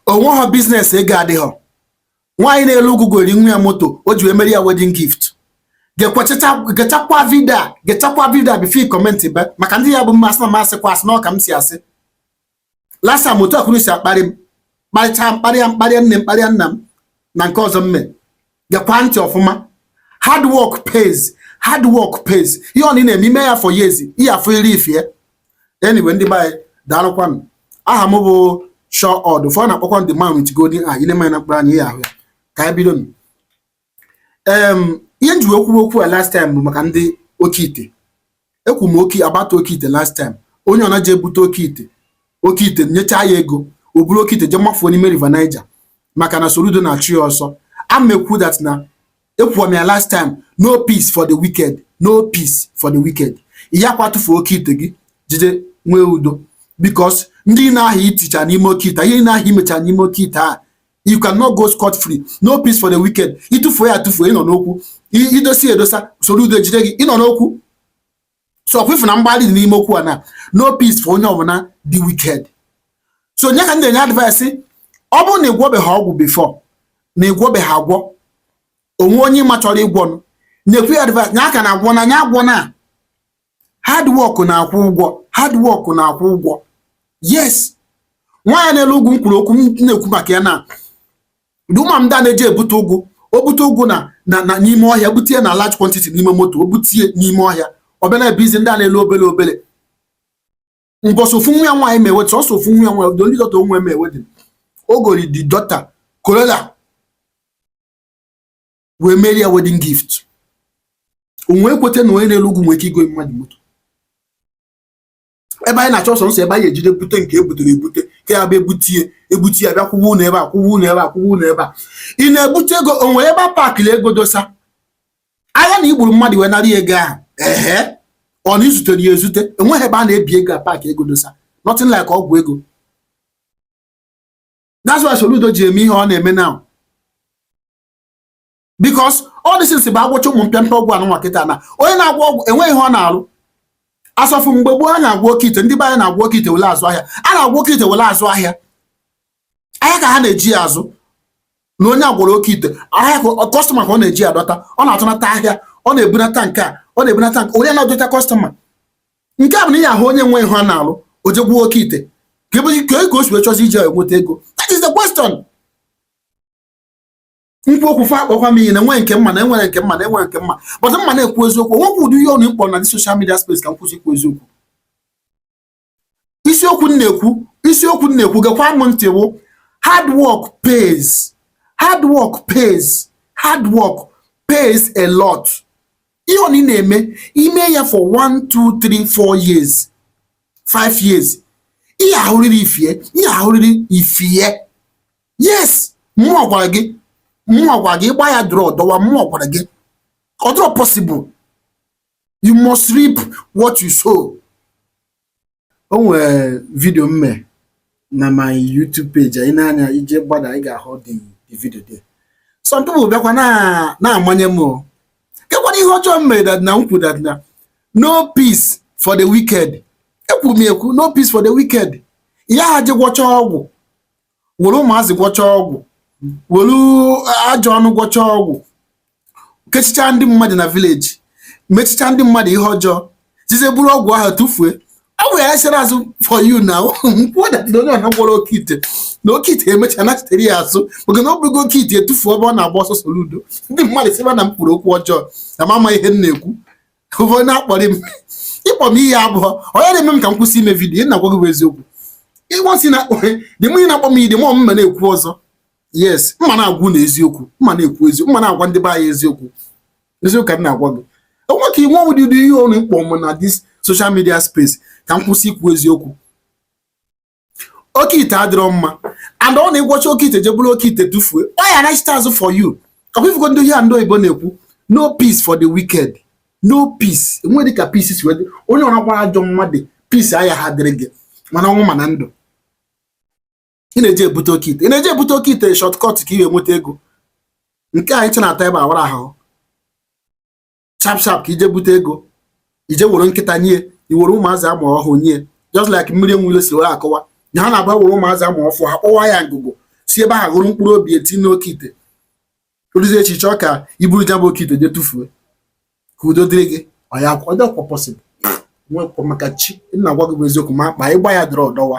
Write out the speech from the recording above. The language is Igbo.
o nweghọ biznes ego adịghọ nwaanyị na-ele ugwu gori nwa ya moto o ji wee mere ya wedin gift gechakwa vidio a gechakwa vidio a before ị kọmentịbe maka ndị ya bụ mmasị na m asịkwa asị na ọ ka m si asị lasa m otu akwụrụ si akparị m kparịcha m kparịa m kparịa nne m kparịa nna m na nke ọzọ mme gekwa ntị ọfụma hard work pays hard work pays ihe ọ na-eme i mee ya for years ihe afọ iri ifie anyway ndị be anyị daalụkwanụ aha m bụ Shaw Odd ụfọdụ na-akpọkwa the man with golden eye i lee m anya na mkpụrụ anya ị ya-ahụ ya ka anyị bido nụ. Em, ihe m ji wee kwuwe okwu a last time bụ maka ndị oke ite ekwu m okwu about oke ite last time onye ọ na-eje ebute oke ite oke ite nyechaa ya ego o buru oke ite je mafuo n'ime river Niger maka na Soludo na-achụ ya ọsọ a m ekwu that na ekwuwa m ya last time no peace for the wicked no peace for the wicked ị yakwa tụfuo oke ite gị jide nwee udo because ndị ahụ i ticha n'ime oke ite ihe ahụ i mecha n'ime oke ite a you cannot go scot free no peace for the wicked ị tụfuo ya atụfu ị nọ n'okwu i dosa edosa Soludo jide gị ị nọ n'okwu so ọkwa ị fụ na mgbalị dị n'ime okwu a na no peace for onye ọbụla the wicked so ya ka m na-enye advice ọ bụrụ na ị gwọbeghị ọgwụ before na ị gwọbeghị agwọ o nwee onye ị ma chọrọ ịgwọ nụ na-ekwu ya advice na aka na agwọna onye agwọna hard work na-akwụ ụgwọ hard work na-akwụ ụgwọ yes nwaanyị na-ele ugwu m kwuru okwu m na-ekwu maka ya na ndị mama ndị a na-eje ebute ụgwụ o bute ụgwụ na na n'ime ọhịa butie na large quantity n'ime moto o butie n'ime ọhịa ọ bịa na-ebuizi ndị a na-ele obele obele mbọsị ofu nwa ya nwaanyị me wed sọsọ ofu nwa ya nwaanyị the only daughter o nwe me wedding o gori the daughter Corolla wee merie ya wedding gift onwe ekweta na onye na-ele ugwu nwee ike igo mmadụ moto ebe anyị na-achọ sọsọ ebe anyị ejide bute nke e butere ebute ka ya bụ e butie ebuti ya bịa kwụwa ụlọ ebe a kwụwa ụlọ ebe a kwụwa ụlọ ebe a ị na-ebute ego o nwere ebe a paakịrị ego dosa ahịa na i gburu mmadụ wee nara ego ahụ ehe ọ na i zutere ya ezute o nweghị ebe a na-ebi ego a paakị ego dosa nothing like ọgwụ ego that's why Soludo ji eme ihe ọ na-eme now because ọ dị since bụ agwọcha ụmụ mpịampịa ọgwụ a nụnwa kịta na onye na-agwọ ọgwụ enweghị ihe ọ na-alụ as of mgbe gboo a na-agwọ oke ite ndị be anyị na-agwọ oke ite wele azụ ahịa a na-agwọ oke ite wele azụ ahịa ahịa ka ha na-eji ya azụ na onye agwọrọ oke ite ahịa kọstọma ka ọ na-eji ya adọta ọ na-atụnata ahịa ọ na-ebunata nke a ọ na-ebunata nke onye na-adọta kọstọma nke a bụ na ihe ahụ onye nwe ihe ọ na-alụ o jee gwọọ oke ite ka ebe ka o si wee chọzi iji enweta ego that is the question ikwu okwu fa akpọkwa m ihe na enwe nke m ma na enwere nke m ma na enwere nke m ma but m ma na-ekwu eziokwu o nwekwu ụdị ihe unu ịkpọ na this social media space ka m kwụsị ikwu eziokwu isiokwu m na-ekwu isiokwu m na-ekwu gekwa m ntị bụ hard work pays hard work pays hard work pays a lot ihe ọbụna ị na-eme i mee ya for 1 2 3 4 years 5 years ị ya-ahụrịrị ife ị ya-ahụrịrị ife yes mmụọ gwara gị mmụọ gwara gị ịgba ya dụrụ ọdọwa mmụọ gwara gị ọ dịrọ possible you must reap what you sow o nwere video m me na my YouTube page anyị na-anya i je gbada ị ga-ahụ the video there some people bịakwa na-amanye m kekwanụ ihe ọjọọ m mere that na m kwuru that na no peace for the wicked ekwuru m ekwu no peace for the wicked ya ha je gwọcha ọgwụ were ụmụazị gwọchaa ọgwụ were ajọ ọnụ gwọchaa ọgwụ kechichaa ndị mmadụ na village mechichaa ndị mmadụ ihe ọjọọ jezie buru ọgwụ ahụ tụfue ọ bụ ya chere azụ for you na m kwuo na onye ọbụna gwọrọ oke ite na oke ite emecha nachitere ya azụ maka na ọ bụghị oke ite etufuo ebe ọ na-agba ọsọ soludo ndị mmadụ sịba na m okwu ọjọọ na m ama ihe m na-ekwu onye na-akparị m ị kpọ m ihe abụọ onye na-eme m ka m kwụsị ime vidiyo na-agwa gị bụ eziokwu ịgbasi na akpọ dị mụ na-akpọ m ide mọ m ma na-ekwu ọzọ yes m ma na-agwa unu eziokwu m ma na-ekwu eziokwu m ma na-agwa ndị be anyị eziokwu eziokwu ka m na-agwa gị o nwe ka i nwe o nwedị ụdị ihe unu ịkpọ m na this social media space ka m kwụsị ikwu eziokwu oke ite adịrọ mma and ọ na ị gwọcha oke ite je buru oke ite tụfuo ọ ya-anachite azụ for you ọ kwa ị fụgo ndị ihe ndị oyibo na-ekwu no peace for the wicked no peace e nwedị ka peace si we dị onye ọra gbara ajọ mmadụ peace ayaha adịrị gị ma n'ọnwụ ma na ndụ ị na-eji ebute oke ite ị na-eji ebute oke ite shortcut ka ị ga-enweta ego nke anyị chena ata ebe awara ahụ sharp sharp ka i je bute ego i je were nkịta nye i were ụmụazị a mụ ọhụụ nye just like mmiri enwe ilo si were akọwa na ha na-agba were ụmụazị a mụ ọfụụ ha kpọwa ya ngụgụ si ebe ahụ họrọ mkpụrụ obi ya tie n'oke ite o ruzie echi ị chọọ ka i buru ya bụ oke ite je tụfuo ka udo dịrị gị ọ ya ọ dịrọkwa possible nwekwa maka chi m na-agwa gị bụ eziokwu ma akpa ịgba ya dịrị ọdọwa